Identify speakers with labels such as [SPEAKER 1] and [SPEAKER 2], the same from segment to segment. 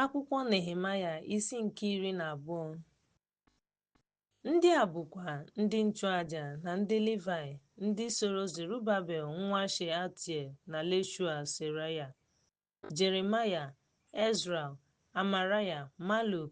[SPEAKER 1] Akwụkwọ Nehemaya isi nke iri na abụọ Ndị a bụkwa ndị nchụaja na ndị Livaị ndị soro Zerubabel nwa Shealtiel na Leshua Seraya, Jeremaya, Ezra, Amaraya, Maluk,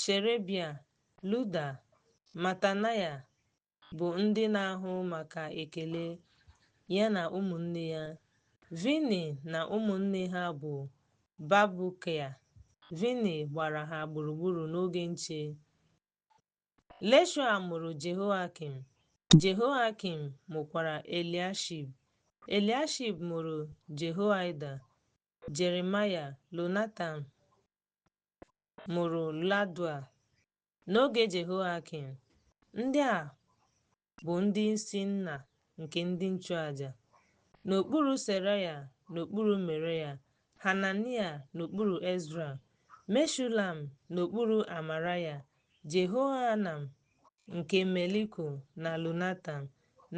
[SPEAKER 1] Sherebia, Luda, Matanaya bụ ndị na-ahụ maka ekele, ya na ụmụnne ya. Vini na ụmụnne ha bụ Babukia. Vini gbara ha gburugburu n'oge nche. Leshua mụrụ Jehoiakim. Jehoiakim mụkwara Eliashib. Eliashib mụrụ Jehoiada, Jeremaya, Lonatan, mụrụ Ladua. N'oge Jehoiakim, ndị a bụ ndị isi nna nke ndị nchụaja. N'okpuru Seraya, n'okpuru Meraya, Hanania n'okpuru Ezra, Meshulam n'okpuru Amaraya, Jehohanan nke Meliko na Lunatan,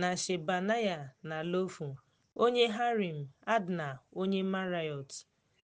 [SPEAKER 1] na Shebanaya na Lofu, onye Harim, Adna onye Marayot.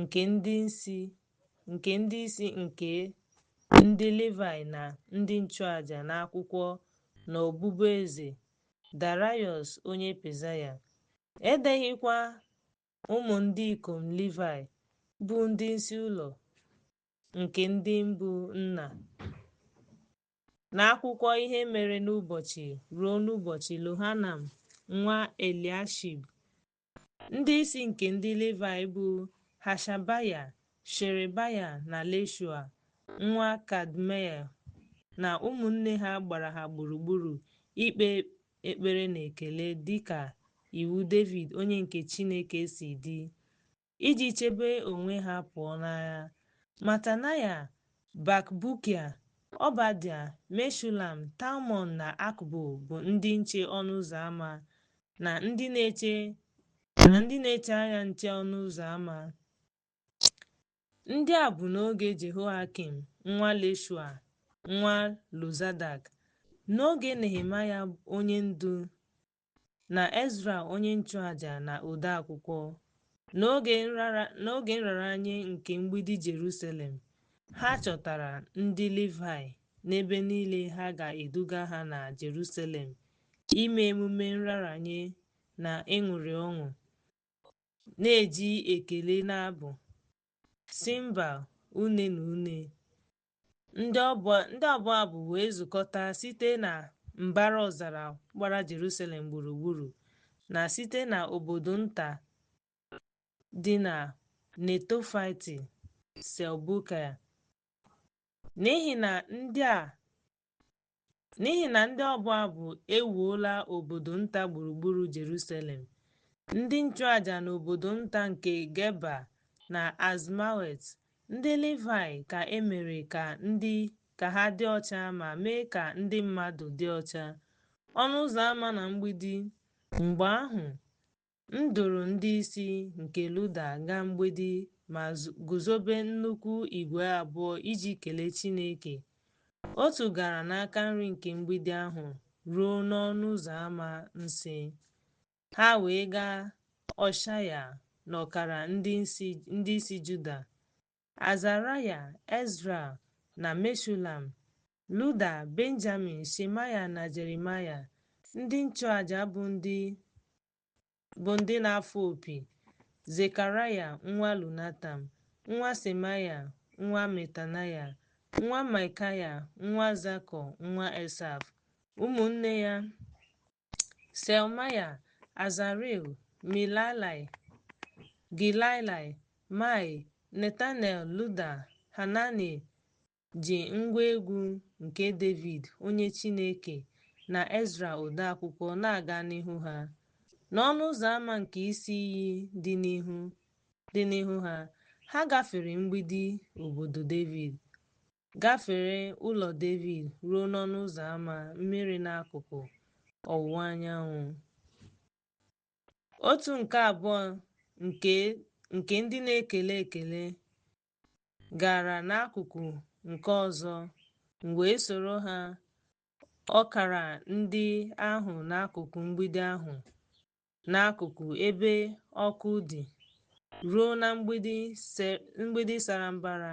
[SPEAKER 1] nke ndị isi nke ndị Livaị na ndị nchụaja n'akwụkwọ n'ọbụbụ eze Darayọs onye Pezaya, e deghịkwa ụmụ ndị ikom Livaị bụ ndị isi ụlọ nke ndị mbụ nna n'akwụkwọ ihe mere n'ụbọchị ruo n'ụbọchị Lohanam nwa Eliashib Ndị isi nke ndị Livayị bụ Hashabaya, Sherebaya na Leshua nwa Kadmiel na ụmụnne ha gbara ha gburugburu ikpe ekpere na ekele dịka iwu Devid onye nke Chineke si dị, iji chebe onwe ha pụọ n'agha. Matanaya, Bakbukia, Ọbadia, Meshulam, Talmon na Akbụ bụ ndị nche ọnụ ụzọ ama. na ndị na-eche anya nche ọnụ ụzọ ama. Ndị a bụ n'oge Jehoiakim nwa Leshua nwa Lozadak, n'oge Nehemaya onye ndu na Ezra onye nchụaja na odeakwụkwọ, n'oge nraranye nke mgbidi Jerusalem, ha chọtara ndị Livaị n'ebe niile ha ga-eduga ha na Jerusalem ime emume nraranye na ịṅụrị ọṅụ, na-eji ekele na abụ, simbal, une na une. Ndị ọbụ abụ wee zukọta site na mbara ọzara gbara Jerusalem gburugburu na site na obodo nta dị na Netofaiti, Selbukaya. n'ihi na ndị a n'ihi na ndị ọbụ abụ ewuola obodo nta gburugburu Jerusalem ndị nchụaja na obodo nta nke Geba na Azmawet ndị Livayị ka e mere ka ndị ka ha dị ọcha ma mee ka ndị mmadụ dị ọcha ọnụ ụzọ ama na mgbidi mgbe ahụ M duru ndị isi nke Luda gaa mgbidi ma guzobe nnukwu igwe abụọ iji kelee Chineke. Otu gara n'aka nri nke mgbidi ahụ ruo n'ọnụ ụzọ ama nsị. Ha wee gaa Ọshaya na ọkara ndị isi Juda, Azaraya, Ezra, na Meshulam, Luda, Benjamin, Shemaya, na Jeremaya, ndị nchụaja bụ ndị bụ ndị na-afụ opi, Zekaraya nwa Lunatam, nwa Semaya, nwa Metanaya, nwa Maikaya, nwa Zakọ, nwa Esaf, ụmụnne ya Selmaya, Azarel, Milalai, Gilalai, Mai, Netanel, Luda, Hanani ji ngwa egwu nke Devid onye Chineke na Ezra odeakwụkwọ na-aga n'ihu ha. N'ọnụ ụzọ ama nke isi iyi dị n'ihu dị n'ihu ha, ha gafere mgbidi obodo Devid. Gafere ụlọ Devid ruo n'ọnụ ụzọ ama mmiri n'akụkụ ọwụwa anyanwụ. Otu nke abụọ nke nke ndị na-ekele ekele gara n'akụkụ nke ọzọ, m wee soro ha ọkara ndị ahụ n'akụkụ mgbidi ahụ n'akụkụ ebe ọkụ dị ruo na mgbidi se- mgbidi sara mbara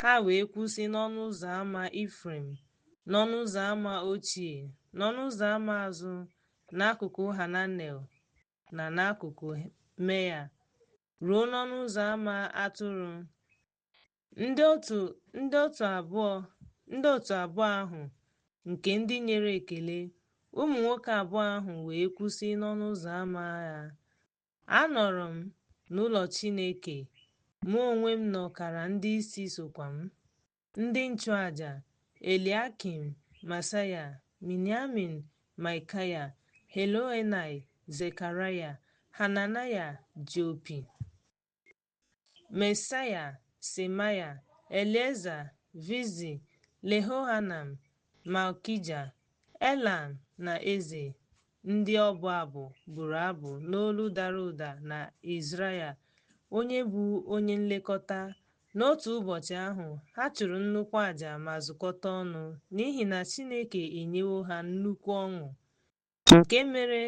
[SPEAKER 1] Ha wee kwụsị n'ọnụ ụzọ ama Ifrem, n'ọnụ ụzọ ama ochie, n'ọnụ ụzọ ama azụ, n'akụkụ Hananel na n'akụkụ Meya, ruo n'ọnụ ụzọ ama atụrụ. Ndị otu ndị otu abụọ ndị otu abụọ ahụ nke ndị nyere ekele, ụmụ nwoke abụọ ahụ wee kwụsị n'ọnụ ụzọ ama ya. Anọrọ m n'ụlọ Chineke, mụ onwe m na ọkara ndị isi sokwa m, ndị nchụaja, Eliakim, Masaya, Miniamin, Maikaya, Heloenai, Zekaraya, Hananaya ji opi. Mesaya, Semaya, Elieza, Vizi, Lehohanam, Malkija, Elam, na Eze. Ndị ọbụ abụ bụrụ abụ n'olu dara ụda na Izraya, onye bụ onye nlekọta. N'otu ụbọchị ahụ, ha chụrụ nnukwu aja ma zukọta ọnụ, n'ihi na Chineke enyewo ha nnukwu ọṅụ. nke mere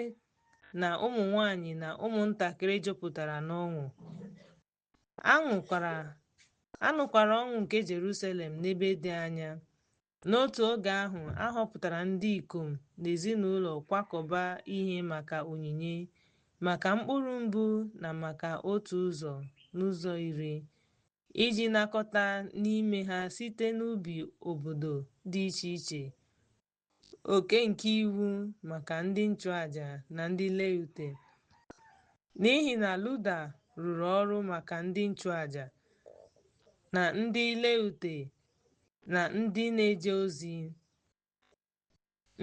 [SPEAKER 1] na ụmụ nwanyị na ụmụntakịrị jupụtara n'ọṅụ a nụkwara ọṅụ nke Jerusalem n'ebe dị anya n'otu oge ahụ a họpụtara ndị ikom na ezinụlọ kwakọba ihe maka onyinye maka mkpụrụ mbụ na maka otu ụzọ n'ụzọ iri iji nakọta n'ime ha site n'ubi obodo dị iche iche oke nke iwu maka ndị nchụaja na ndị Leute. N'ihi na Luda rụrụ ọrụ maka ndị nchụaja na ndị Leute na ndị na-eje ozi.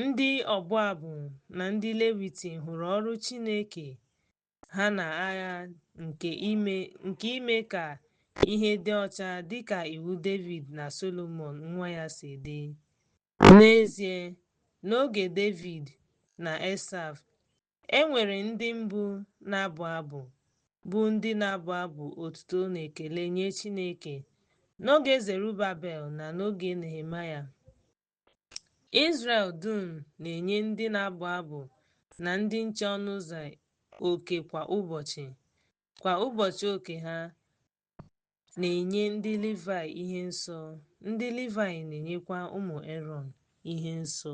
[SPEAKER 1] Ndị ọbụ abụ na ndị Leviti hụrụ ọrụ Chineke ha na agha nke ime ka ihe dị ọcha dịka iwu Devid na Solomon nwa ya si dị. N'ezie, n'oge Devid na Esaf, e nwere ndị mbụ na-abụ abụ, bụ ndị na-abụ abụ otuto na ekele nye Chineke. N'oge Zerubabel na n'oge Nehemaya, Izrel dum na-enye ndị na-abụ abụ na ndị nche ọnụ ụzọ oke kwa ụbọchị, kwa ụbọchị oke ha, na-enye ndị Livaị ihe nsọ, ndị Livaị na-enyekwa ụmụ Erọn ihe nsọ.